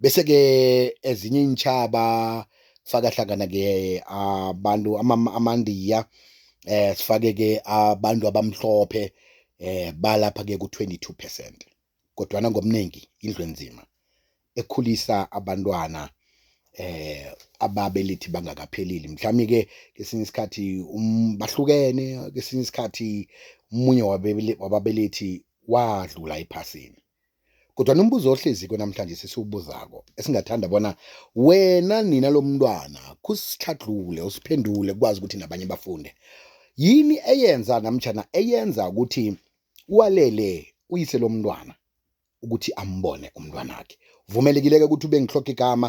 Bese-ke ezinye iintjhaba kufaka hlangana-ke abantu amaNdiya eh sifake-ke abantu abamhlophe eh balapha-ke ku-22 percent kodwana ngomningi indlu enzima ekhulisa abantwana eh ababelethi bangakapheleli mhlawumbe ke kesinye isikhathi um, bahlukene kesinye isikhathi umunye wababelethi wadlula ephasini Kodwa nombuzo ohleziko namhlanje sesiwubuzako esingathanda bona wena nina lomntwana kusitlhadlule usiphendule kwazi ukuthi nabanye bafunde. Yini eyenza namtjhana eyenza ukuthi walele uyise lomntwana ukuthi ambone umntwanakhe. Vumelekileke ukuthi ube ngitlhoga igama,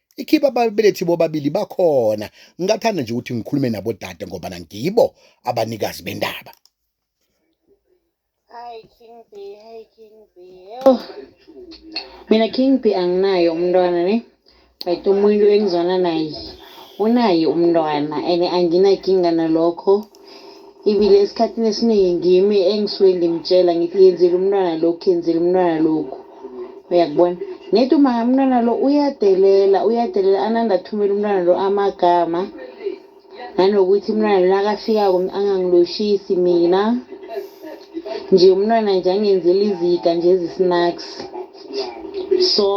ikhiba ababelethi bobabili bakhona ngingathanda nje ukuthi ngikhulume nabo dade ngoba nangibo abanikazi bendaba Hi King B, hi King B. Oh. Mina King B anginayo umntwana ne. But umuntu engizwana naye unaye umntwana and anginakinga nalokho. Ibile esikhathini esiningi ngimi engisuke ngimtshela ngithi yenzile umntwana lokhu yenzile umntwana lokhu uyakubona ngithi uma umntwana lo uyadelela uyadelela ananda athumele umntwana lo amagama nanokuthi umntwana lo nakafikako angangiloshisi mina nje umntwana nje angenzela izika nje ezisinaks so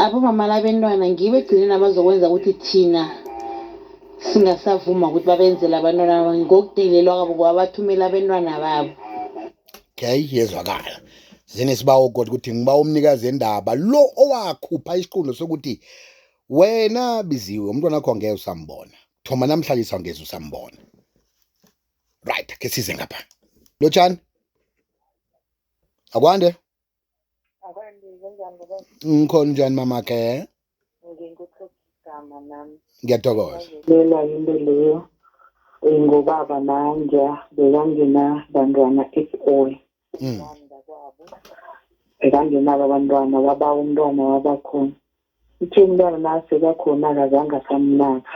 abomama labentwana ngibo ekugcineni abazokwenza ukuthi thina singasavuma ukuthi babenzele abantwana babo ngokudelelwa kwabo ngoba bathumela abentwana babo okay yezwakala zinesibawo kodwa ukuthi ngiba umnikazi endaba lo owakhupha isiqundo sokuthi wena biziwe umntwana wakho ngeke usambona thoma namhlanje sawungeze usambona right ke size ngapha lotshani akwande ngikhona njani mama ke nginguthothigama nami ngiyathokoza lela into leyo eh, ngobaba nanja bekangena bantwana at all mm. bekangenabo abantwana baba umntwana wabakhona Uthe umntwana naseka khona akazange asamnaka.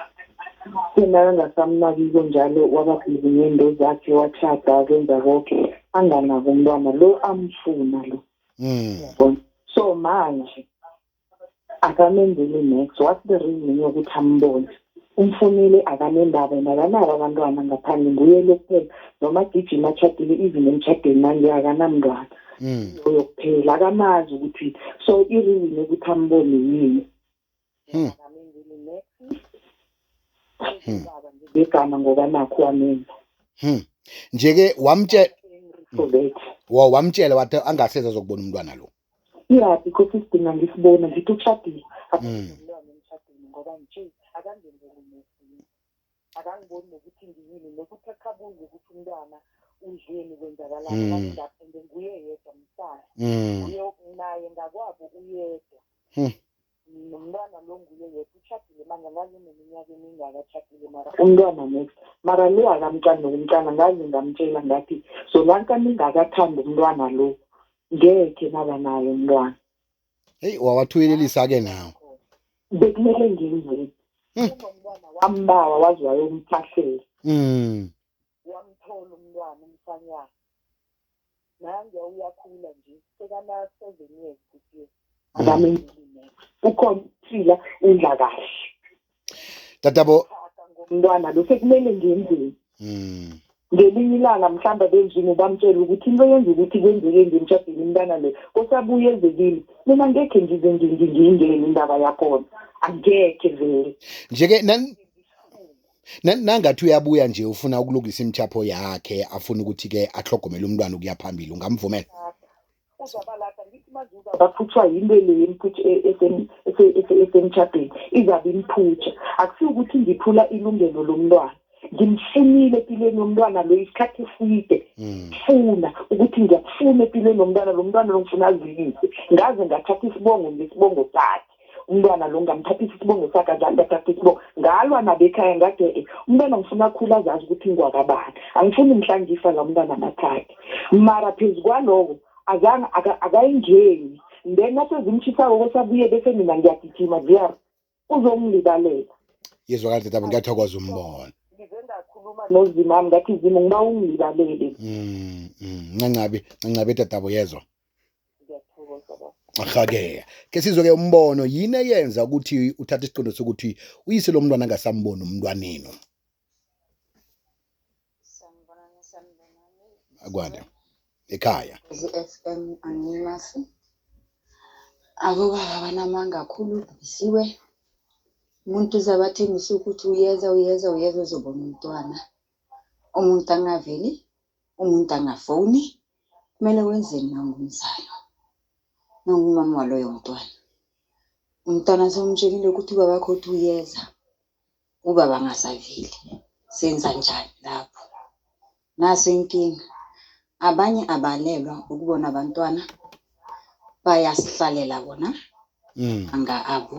Uthe nakangasamnakiko njalo waba busy ngento zakhe wachada kwenza konke anganaki umntwana lo amfuna lo. Mm. Yabona? So manje akamenzeli next what's the reason yokuthi ambone? Umfunile akanendaba and akanabo abantwana ngaphandle nguye lo kuphela noma agijima atshadile even emtshadweni manje akanamntwana mm. loyo kuphela akamazi ukuthi so ireason ukuthi ambone yini hmm. hmm. ngegama ngoba nakho wamenza hmm. nje-ke wamtshela wamtshela wathi angaseza zokubona umntwana lo iyaphi kosi sidinga ngisibona ngithi ushadile akumlwane emshadweni ngoba nje akangenzeli nesini akangiboni nokuthi ngiyini nokuthi akabuze ukuthi umntwana udleni kwenzakalani ngapha ngenguye yedwa msana uye naye ngakwabo uyedwa nomntwana lo nguye yedwa utshadile manje angazi uneminyaka emingaka atshadile mara umntwana next mara le akamcani nokumcana ngazi ngamtshela ngathi solanka ningakathandi umntwana lo ngekhe naba naye umntwana heyi wawathuyelelisa-ke nawo bekumele ngenzeni hmm. umntwana wambawa waze wayomphahlela hmm. Wamthola umntwana umfanyana. Nanguya uyakhula nje. Sekana 7 years this year. Akamenzile. Ukhona uphila udla kahle. Tatabo ngomntwana lo sekumele ngenzeni? Mm. ngelinye ilanga mhlawumbe abenjini bamtshela ukuthi into yenza ukuthi kwenzeke nje emshadweni umntana le kosabuye ezekile mina ngekhe ngize ngingingeni indaba yakhona angekhe vele nje-ke Na- nangathi uyabuya nje ufuna ukulungisa imithapho yakhe afuna ukuthi-ke ahlogomele umntwana ukuya phambili ungamvumela uzabalata ngithi manje uzabaphuthwa yinto le yemphutha e- esem- ese- ese- esemtshadweni izabe imphutha akusiwo ukuthi ngiphula ilungelo lomntwana ngimfunile empilweni yomntwana lo isikhathi eside Mm. funa ukuthi ngiyakufuna empilweni yomntwana lo mntwana lo ngifuna azilise ngaze ngathatha isibongo ngesibongo sakhe umntwana lo ngamthathisa isibongo sakhe azange ngathatha isibongo ngalwa nabekhaya ngathi e umntwana ngifuna akhula azazi ukuthi ngingwakabani angifuni mhla ngifa la umntwana amathathe mara phezu kwaloko azange akayingeni then nasezimshisako kwesabuye bese mina ngiyagijima ziyar uzongilibalela yezwa kahle tabo ngiyathokoza umbono ngakhuluma nozimami ngathi zimu ngiba ungilibalele mm, mm. ncancabi ncancabi dadabo yezwa Ahakeya. Ke sizwe ke umbono yini eyenza ukuthi uthathe isiqondo sokuthi uyise lo mntwana angasamboni umntwanenu. Akwande. Ekhaya. ZFM angimasi. Akuba abanamanga kakhulu bisiwe. Umuntu uzabathembisa ukuthi uyeza uyeza uyeza uzobona umntwana. Umuntu angaveli, umuntu angafoni. Kumele wenzeni uma ungumzali? Uma ungumama waloyo mntwana, umntwana sewumtshelile ukuthi ubaba wakho uthi uyeza, ubaba angasaveli. Senza njani lapho? Naso inkinga. Abanye abalelwa ukubona abantwana, bayasihlalela bona Mm. anga abo.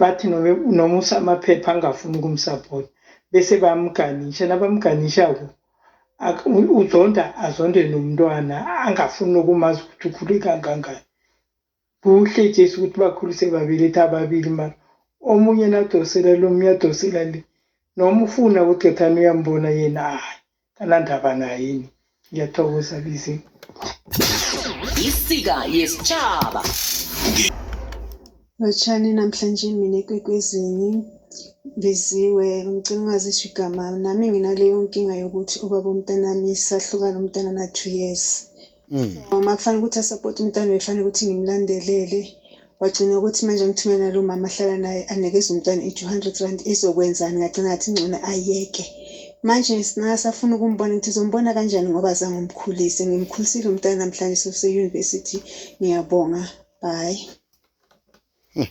bathi noma usamaphepha angafuni ukumsapota bese bamganisha nabamganishako uzonda azonde nomntwana angafuni nokumazi ukuthi ukhule kangangani kuhle jesu ukuthi bakhulise babeletha ababili mara omunye nadosela lo omunye adosela le noma ufuna udothana uyambona yena hayi kanandaba nayini ngiyathokoza bizi isika yesitshaba lotshani namhlanje mina ekwekwezini biziwe ngicela ungazisho igama nami nginaleyo nkinga yokuthi ubaba umntanami sahlukana umntana na-two years Mm. Mama kufanele ukuthi asapoti umntwana befanele ukuthi ngimlandelele wagcina ukuthi manje ngithumela nalo mama ahlala naye anikeze umntwana i-two hundred rand izokwenzani ngagcina ngathi ngcono ayeke manje singasafuna ukumbona ukuthi zombona kanjani ngoba zange umkhulise ngimkhulisile umntana namhlanje soseyunivesithi ngiyabonga bye hmm.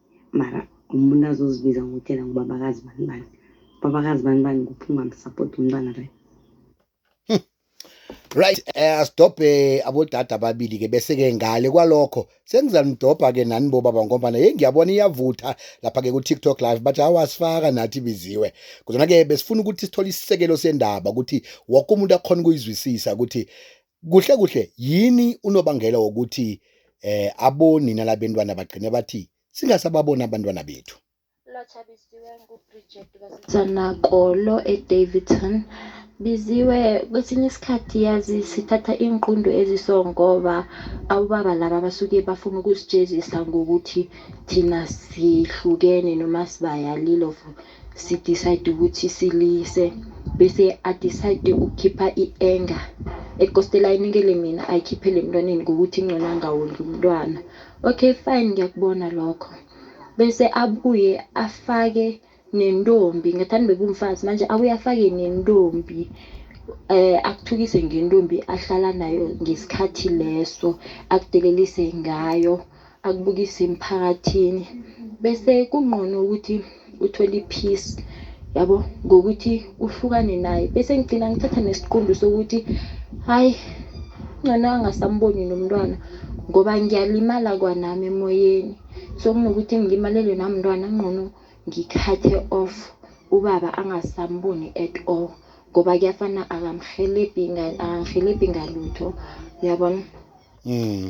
mara umuntu azozibiza ngokutshela ngubabakazi bani bani babakazi bani bani kuphi ungamsapoti umntwana right right eh, asidobhe abodada ababili ke bese ke ngale kwalokho sengizanidobha ke nani bo baba ngoba hey ngiyabona iyavutha lapha ke ku TikTok live but awasifaka nathi biziwe kodwa ke besifuna ukuthi sithole isisekelo sendaba ukuthi wonke umuntu akhona ukuyizwisisa ukuthi Kuhle kuhle yini unobangela wokuthi eh abonina labentwana bagcine bathi singasababona abantwana bethu? Lotshabisiwe nguBridget kaSithanakolo eDaveyton. Biziwe kwesinye isikhathi yazi sithatha iinqundu eziso ngoba abobaba laba basuke bafuna ukusijezisa ngokuthi thina sihlukene noma sibayalile of si decide ukuthi silise bese a decide ukukhipha i-anger ekostela ayinikele mina ayikhiphele emntwaneni ngokuthi ingcono angawondli umntwana okay fine ngiyakubona lokho bese abuye afake nentombi ngathani bebumfazi manje abuye afake nentombi eh akuthukise ngentombi ahlala nayo ngesikhathi leso akudelelise ngayo akubukise emphakathini bese kungqono ukuthi uthole i-peace yabo ngokuthi uhlukane naye bese ngigcina ngithatha nesiqundu sokuthi hayi ngcono angasamboni nomntwana ngoba ngiyalimala kwanami emoyeni so kunokuthi ngilimalelwe namntwana ngqono ngikhathe off ubaba angasamboni at all ngoba kuyafana akamhelebhi akangihelebhi ngalutho uyabona mm.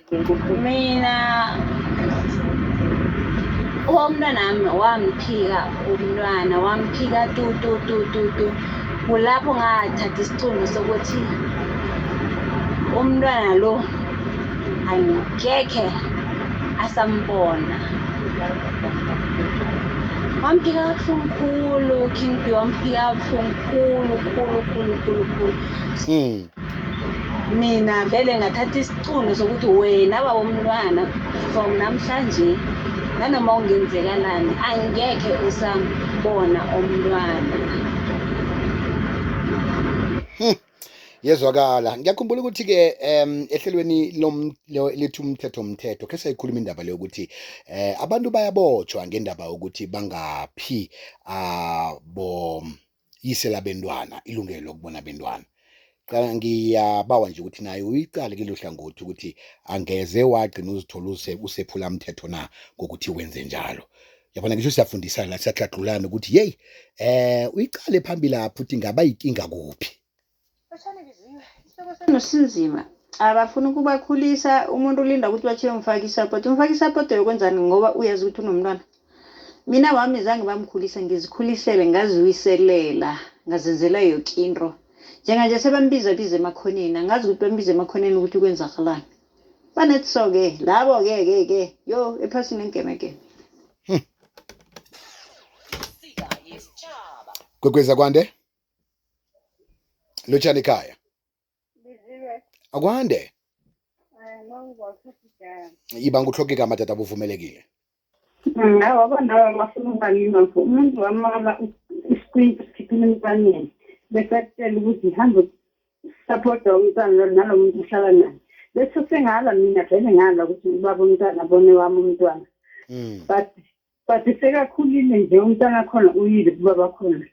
mina umntwanami wamphika umntwana wamphika tu tu tu tu tu kulapho ngathatha isicundo sokuthi umntwana lo angikekhe asambona wamphika kabuhlungu khulu king b wamphika kabuhlungu khulu khulu khulu khulu khulu hmm. mina vele ngathatha isicundo sokuthi wena baba umntwana from namhlanje nanoma ungenzekalani angekhe usambona umntwana hmm. yezwakala ngiyakhumbula ukuthi-ke um ehlelweni lethu umthetho umthetho khe sayikhuluma indaba leyo ukuthi um abantu bayabotshwa ngendaba yokuthi bangaphi abo ah, yise labentwana ilungelo lokubona abentwana qala ngiyabawa nje ukuthi naye uyiqale kilo hlangothi ukuthi angeze wagcina uzithola usephula mthetho na ngokuthi wenze njalo yabona ngisho siyafundisana la siyagqagqulana ukuthi yeyi eh uyiqale phambili lapho ukuthi ngaba yinkinga kuphi nosinzima abafuni ukubakhulisa umuntu ulinda ukuthi batshele umfake isapoti umfake isapoti yokwenzani ngoba uyazi ukuthi unomntwana mina wami zange bamkhulisa ngizikhulisele ngaziwiselela ngazenzela yoke into njenganje sebambiza biza emakhoneni angazi ukuthi bambiza emakhoneni ukuthi kwenzakalani banethi so-ke labo-ke ke ke yo ephasini engemegeme gqwegweza kwande lotshani ekhaya akwande iba nguhloke igama tata buvumelekile awa abantaba bafuna ubalingakho umuntu wamala isikwinti sikhiphile emntwaneni bese akutshela ukuthi hambe sapota umntwana nalo muntu uhlala naye bese sengala mina vele ngala ukuthi ubaba umntwana bone wami umntwana hmm. but but sekakhulile nje umntana khona uyile kubaba khona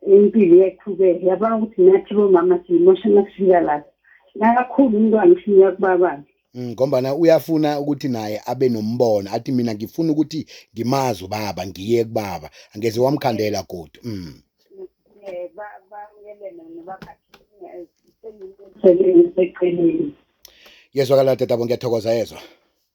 impilo iyaqhubeka yabona ukuthi nathi bomama siyimosha nakufika lapho nakakhulu umntwana usinika kubabakhe Mm, ngombana uyafuna ukuthi naye abe nombono athi mina ngifuna ukuthi ngimazi ubaba ngiye kubaba angeze wamkhandela godu mm. Eh, yezwakala dadabo ngiyathokoza yezwa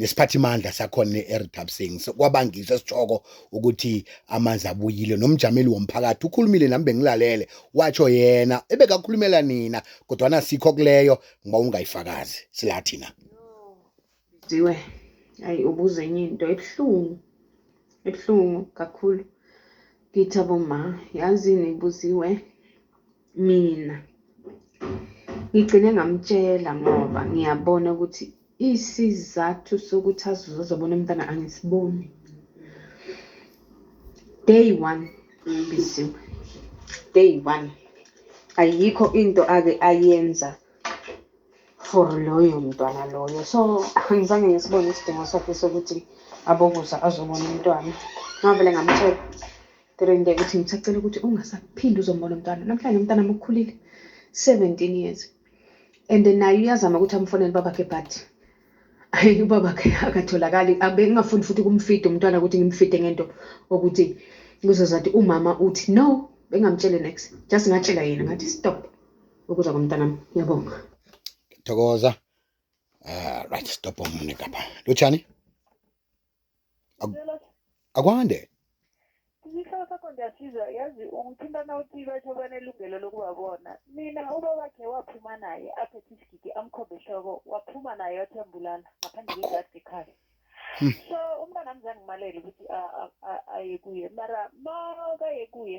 nesiphathimandla sakhona eRithabsing kwabangisa esitshoko ukuthi amanzi abuyile nomjameli womphakathi ukhulumile nami bengilalele watsho yena ebekakhulumela nina kodwa nasikho kuleyo ngoba ungayifakazi sila thina diwe ayi ubuze enye into ebuhlungu ebuhlungu kakhulu ngithi aboma yazini ibuziwe mina ngigcine ngamtshela ngoba ngiyabona ukuthi isizathu sokuthi azozobona umntana angisiboni day one ngibisiwe day one ayikho into ake ayenza for loyo mntwana loyo so angizange ngisibone isidingo sakhe sokuthi abokuza azobona umntwana ngavele ngamtshela Ndirinde ukuthi ngisacela ukuthi ungasaphinde uzombona umntwana namhlanje umntwana mukhulile 17 years and naye uyazama ukuthi amfonele babakhe but hayi ubabakhe akatholakali abengingafuni futhi kumfida umntwana ukuthi ngimfide ngento okuthi kuzozathi umama uthi no bengamtshele next just ngatshela yena ngathi stop ukuza komntanami ngiyabonga thokoza uh, right stop omunye kapha lotshani Ngicela akwande isihloko sakho ndiyasizwa yazi ungithintana uthi batho banelungelo lokubabona mina uba wakhe waphuma naye aphethe isigidi amkhombe ehloko waphuma naye wathi uyambulala ngaphandle kwegadi ekhaya so umntwana mzangimalele ukuthi a- a- a- aye kuye mara makaye kuye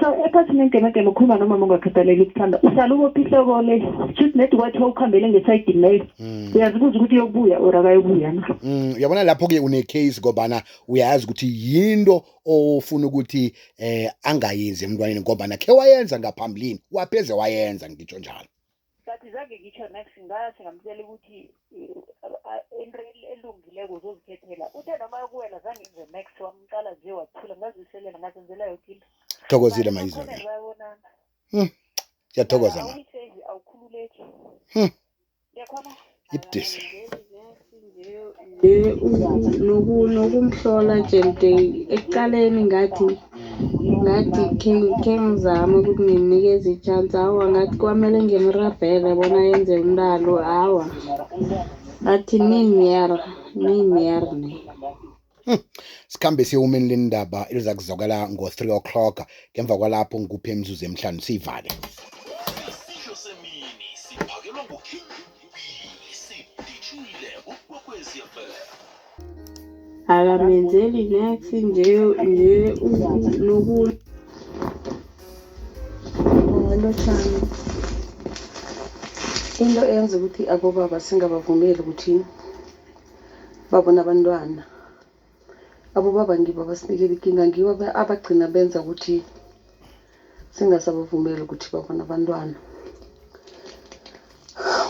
so ekhathini engemegeme ukhuluma nomama ongakhathaleli ukuthanda uhlala ubopha ihloko le shuthi nedi kwathi wawukhambele ngesayidini leyo mm. uyazibuza ukuthi uyobuya or akayobuya na mm, uyabona lapho-ke une-case ngobana uyazi ukuthi yinto ofuna ukuthi um angayenzi emntwaneni ngobana khe wayenza ngaphambilini wapheze wayenza ngitsho njalo Sathi zange ngisho next ngathi ngamtshela ukuthi into elungileko uzozikhethela. Uthe noma yokuwela zange ngize next wamqala nje wathula ngaziselela ngazenzela yoke into. Thokozile mayizwa. Hmm. Siyathokoza ma. Awukhululeki. Hmm. Ngiyakhona. ibudisi nokumhlola nje mde ekuqaleni ngathi ngathi khe ngizame ukuthi ngimnikeze i-chance hawa ngathi kwamele ngimrabhele bona yenze umntalo hawa ngathi nini yer nini yer ne Hmm. Sikhambe siyewumeni lendaba eliza kuzwakala ngo-3 o'clock ngemva kwalapho ngikuphe imizuzu emihlanu siyivale. Isidlo semini siphakelwa nguKing Bisi dijile ukwekwezi FM. akamenzeli nex nje nje nokunye lotshani into eyenza ukuthi abobaba singabavumeli ukuthi babona abantwana abobaba ngibo abasinikela ikinga ngibo abagcina benza ukuthi singasabavumeli ukuthi babona abantwana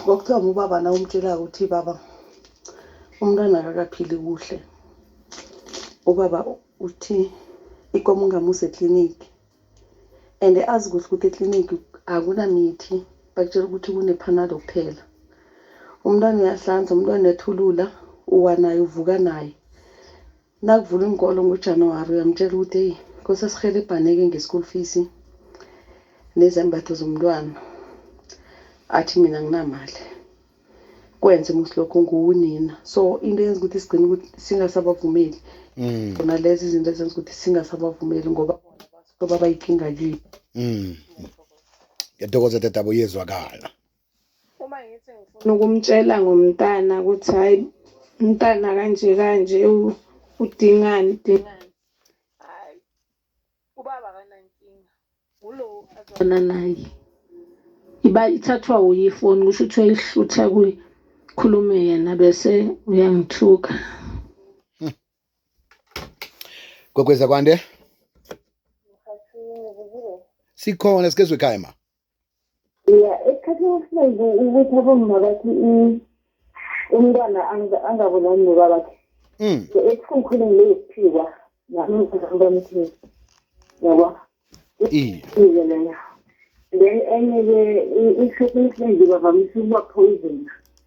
kwakuthiwa ngubaba na umtshelaka ukuthi baba umntwana akakaphili kuhle ubaba uthi ikomo ungamusa ekliniki and azi kuhle ukuthi ekliniki akunamithi bakutshela ukuthi kunephanado kuphela umntwana uyahlanza umntwana uyathulula uwa naye uvuka naye nakuvula inkolo ngojanuwari uyamtshela ukuthi eyi nkosi asihelebhane-ke nge-school fees nezembatho zomntwana athi mina nginamali kwenze musi lokho nguwunina so into eyenza ukuthi sigcine ukuthi singasabavumeli mm. khona lezi izinto ezenza ukuthi singasabavumeli ngoba baba bayinkinga kithi mm. ngiyathokoza dadabo yezwakala uma ngithi ngifuna ukumtshela ngomntana ukuthi hayi umntana kanje kanje udingani udingani ubaba akanankinga ngulowo azwana naye iba ithathwa wuye ifoni kusho ukuthi uyayihlutha kuye khulume yena bese uyangithuka gogweza kwande sikhona sikezwe ekhaya ma ya esikhathini esiningi ukuthi abomma bathi umntwana angabonani nobabakhe mm. so esikhumkhulini leyokuphikwa nami ngizambamthini yabo iye leyo then enye-ke isikhathini esiningi bavamise ukuba poisona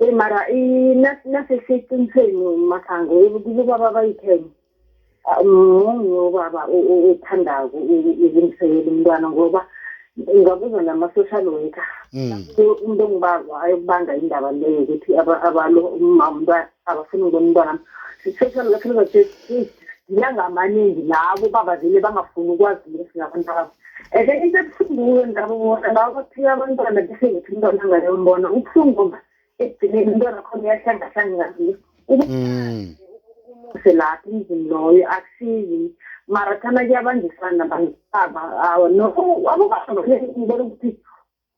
Eh mara i nase siqinisweni masango kubaba bayitheni. Mungu ubaba uthanda ukumsekela umntwana ngoba ngabuza nama social worker. Hmm. Umuntu ongibaba ayokubanga indaba leyo ukuthi abalo umama umntwana abafuni ngibona umntwana siseshona lapho ngizothi ngilanga amaningi labo baba vele bangafuni ukwazi lesi ngabantu babo and then into ebuhlungu ndaba ngona labo baphika abantwana bese ngithi umntwana angayombona ubuhlungu ngoba ekugcineni umntwana khona uyahlangahlanga ngazi mm. umuse lapho emzini loyo akusizi mara thana kuyabanjisana nabantu baba awa no abobaba ngibona ukuthi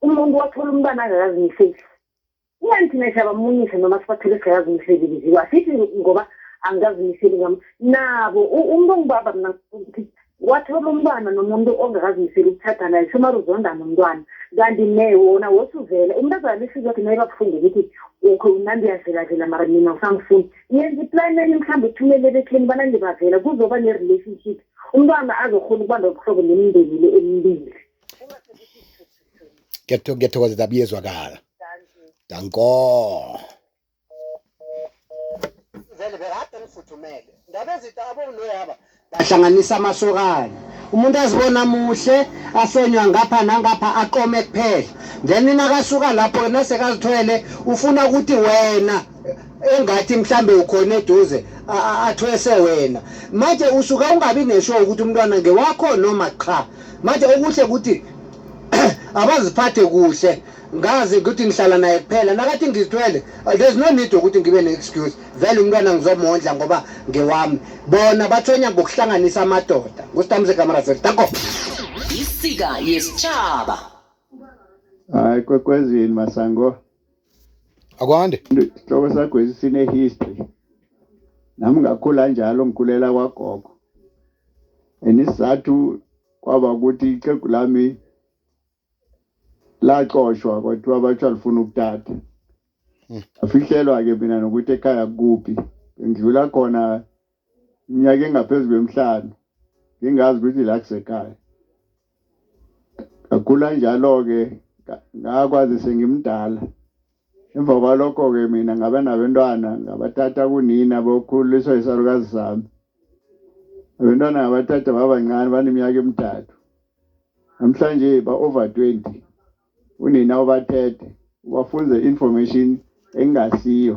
umuntu wathola umntwana angakazimiseli Ingani thina siyabamunyisa noma sibathole singakazi umsebenzi wasithi ngoba angikazi imiseli ngam nabo umuntu ongibaba mina ukuthi wathola umntwana nomuntu ongakazimiseli ukuthatha naye somari uzonda nomntwana kanti ne wona wosuvele umntazana lisizi wathi naye babuhlungu ukuthi ukho unandi uyavelavela mara mina usangifuni yenza iplani enye mhlawumbe uthumele ebekheni banandi bavela kuzoba ne-relationship umntwana azokhona ukuba nobuhlobo nemindeni le emibili ngiyathokozela abuyezwakala danko vele bekade ngifuthumele ndaba ezitha abowunoyaba bahlanganisa amasokana umuntu azibona muhle ahlonywa ngapha nangapha aqome kuphela then nakasuka lapho yena sekazithwele ufuna ukuthi wena engathi mhlambe ukhona eduze athwese wena manje usuka ungabi nesho ukuthi umntwana ngewakho noma cha manje okuhle ukuthi abaziphathe kuhle ngazi ukuthi ngihlala naye kuphela nakathi ngizithwele uh, there's no need ukuthi ngibe ne-excuse vele umntwana ngizomondla ngoba ngewami bona bathonya ngokuhlanganisa amadoda ngustamze kamaraseri tako isika yesitshaba hayi kwekwezini masango akwande isihloko sakho esisine-history nami ngakhula njalo ngikhulela kwagogo and isizathu kwaba ukuthi ixhegu lami laxoshwa kwathiwa bathiwa lifuna ukutata hmm. afihlelwa-ke mina nokuthi ekhaya kuphi ngidlula khona iminyaka engaphezu kwemihlanu ngingazi ukuthi la kusekhaya ngakhula njalo-ke ngakwazi sengimdala emva kwalokho-ke mina ngaba nabentwana ngabathatha kunina bokhuliswa isalukazi sami abentwana ngabathatha babancane baneminyaka emithathu namhlanje ba-over 20 unina ubathethe ubafunze information engasiyo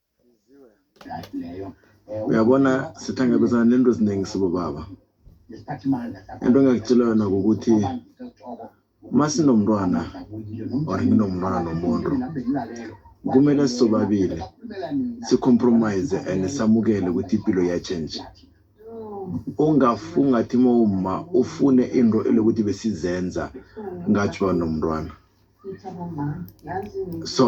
uyabona sihlangabezana nento eziningi sibobaba into engakutshela yona ngokuthi uma sinomntwana or nginomntwana nomuntu kumele sisobabili sicompromise and samukele ukuthi impilo iyatshentshe ungafungathi uma uma ufune into elokuthi besizenza ngathi banomntwana so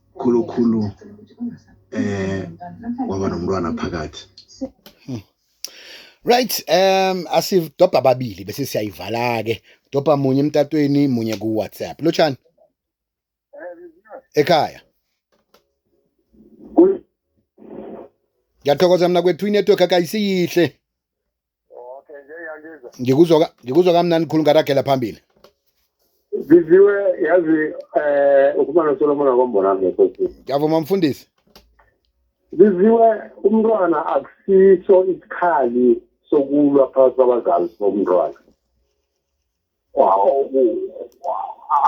khulukhulu eh kwaba nomntwana phakathi hmm. Right um asidobha ababili bese siyayivala ke dobha munye emtatweni munye ku WhatsApp lotshani ekhaya Ngiyathokoza mina kwethu inetwork akayisiyihle Okay, ngiyangizwa. Ngikuzwa ka- ngikuzwa kamnandi khulu ngaragela phambili. Biziwe yazi eh ukhuluma noSolomon wakombona ngekhosi. Ngiyavuma mfundisi. Biziwe umntwana akusiso isikhali sokulwa phakathi kwabazali bomntwana.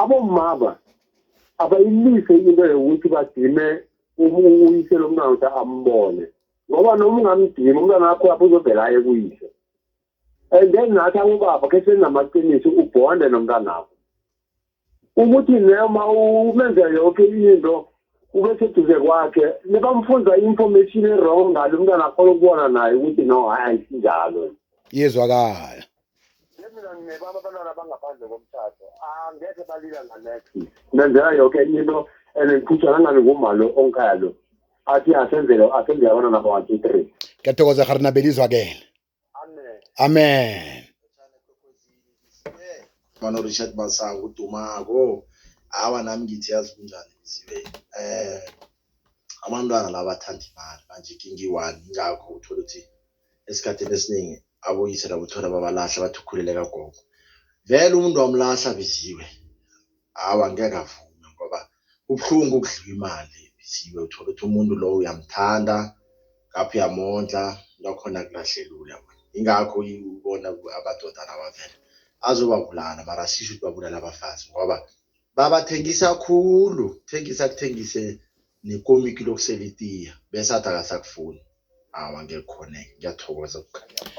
abomama abayilise into yokuthi badime uyise lo mntwana ukuthi ambone ngoba noma ungamdima umntwana wakho lapho uzovela aye kuyise and then nathi abobaba khe senamaqiniso ubhonde nomntanakho ukuthi noma umenza yonke into ube seduze kwakhe nebamfunza i-information e-wrong ngalo umntwana akhona ukubona naye ukuthi no hayi ayisinjalo yezwakala mina nginebaba abantwana abangaphandle komthatho angekhe balila nganext nenzela yoke enye into and ngiphutha nangabe nguma lo ongikhaya lo athi asenzele asenzele abantwana ba-one two three ngiyathokoza gari nabelizwakele amen amen mano richard masango udumako hawa nami ngithi yazi kunjani biziwe um abantwana la bathanda imali manje kingiyi-one ingakho uthole ukuthi esikhathini esiningi abuyise labo thola babalahla bathi ukhulele kagogo vele umuntu wamlahla biziwe hawu angeke avume ngoba kubuhlungu ukudliwa imali biziwe uthola ukuthi umuntu lowo uyamthanda ngapho uyamondla lakhona kulahlelula ingakho ubona amadoda lawa vele azobabulala mara sisho ukuthi babulala abafazi ngoba babathengisa khulu thengisa kuthengise nekomiki lokusela itiya bese athi akasakufuni awa ngekhona ngiyathokoza kukhanya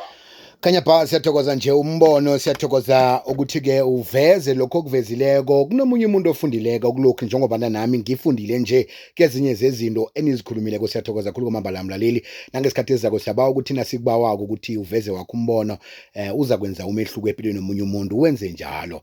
Khanya bha siyathokoza nje umbono siyathokoza ukuthi ke uveze lokho okuvezileko kunomunye umuntu ofundileko kulokhu njengoba nami ngifundile nje kezinye zezinto enizikhulumileko siyathokoza khulu kwamambala mlaleli nangesikhathi ezako siyabawa ukuthi nasikubawako ukuthi uveze wakho umbono eh, uza kwenza umehluko empilweni nomunye umuntu wenze njalo